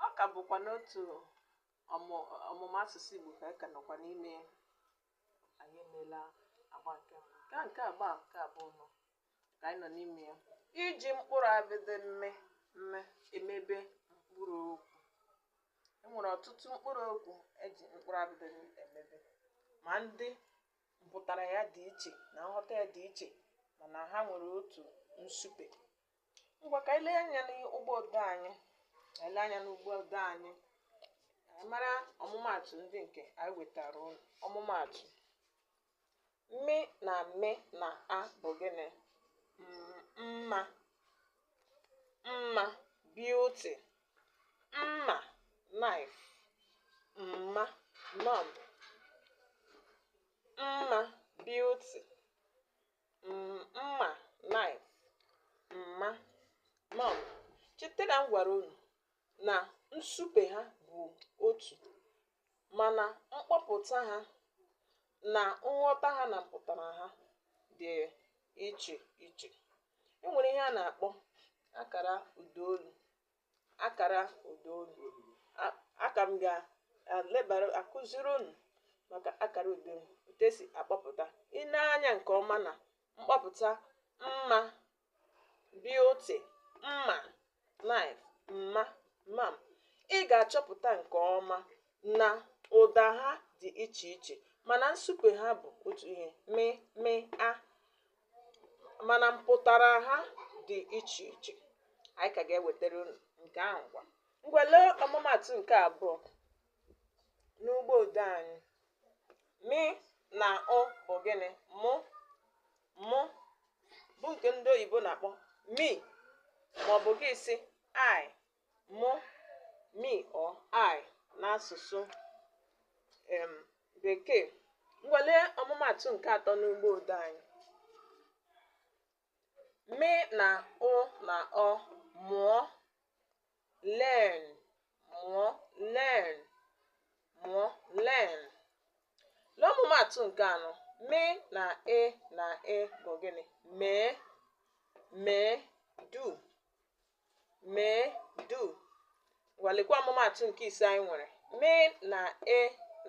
ọ ka bụkwa n'otu ọmụmụ asụsụ Igbo ka anyị ka nọkwa n'ime ya anyị emeela agba nke mbụ nke a nke agba nke abụọ nọ ka anyị nọ n'ime ya iji mkpụrụ abịdị mme mme emebe mkpụrụ okwu e nwere ọtụtụ mkpụrụ okwu e ji mkpụrụ abịdị emebe ma ndị mpụtara ya dị iche na nghọta ya dị iche mana ha nwere otu nsupe ngwa ka anyị lee anya n'ụgbọ odee anyị lee anya n'ụgbọ odee anyị mara ọmụmaatụ ndị nke anyị wetara unu ọmụmaatụ mị na mị na a bụ gịnị M- mma mma beauty mma knife mma mum mma beauty mma knife mma mum cheta na m gwara unu na nsupe ha bụ otu mana mkpọpụta ha na nghọta ha na mpụtara ha dị iche iche e nwere ihe a na-akpọ akara ụdaolu akara ụda olu a ka m ga-elebara akụziri unu maka akara ụda olu otu e si akpọpụta i nee anya nke ọma na mkpọpụta mma beauty mma knife mma mum ị ga-achọpụta nke ọma na ụda ha dị iche iche mana nsupe ha bụ otu ihe mị mị a mana mpụtara ha dị iche iche anyị ka ga-ewetara unu nke ahụ ngwa ngwa lee ọmụmaatụ nke abụọ n'ụgbọ odee anyị mị na ụ bụ gịnị mụ mụ bụ nke ndị oyibo na-akpọ me maọbụ gị sị I mụ, me or I n'asụsụ um Bekee. Ngwa lee ọmụmaatụ nke atọ n'ụgbọ odee anyị. Mị na ụ na ọ mụọ learn mụọ learn mụọ learn. Lee ọmụmaatụ nke anọ. Mị na e na e bụ gịnị? Mee mee do mee do ngwa lekwa ọmụmaatụ nke ise anyị nwere mị na e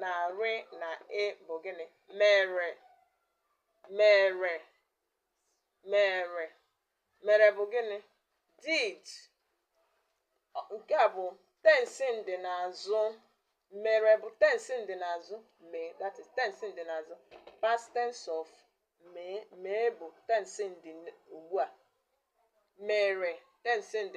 na rị na e bụ gịnị mere mere mere mere bụ gịnị did Ọ- nke a bụ tensi ndị n'azụ mere bụ tensi ndị n'azụ mee that is tensi ndị n'azụ past tense of mee mee bụ tense ndị ugbu a mere tense ndị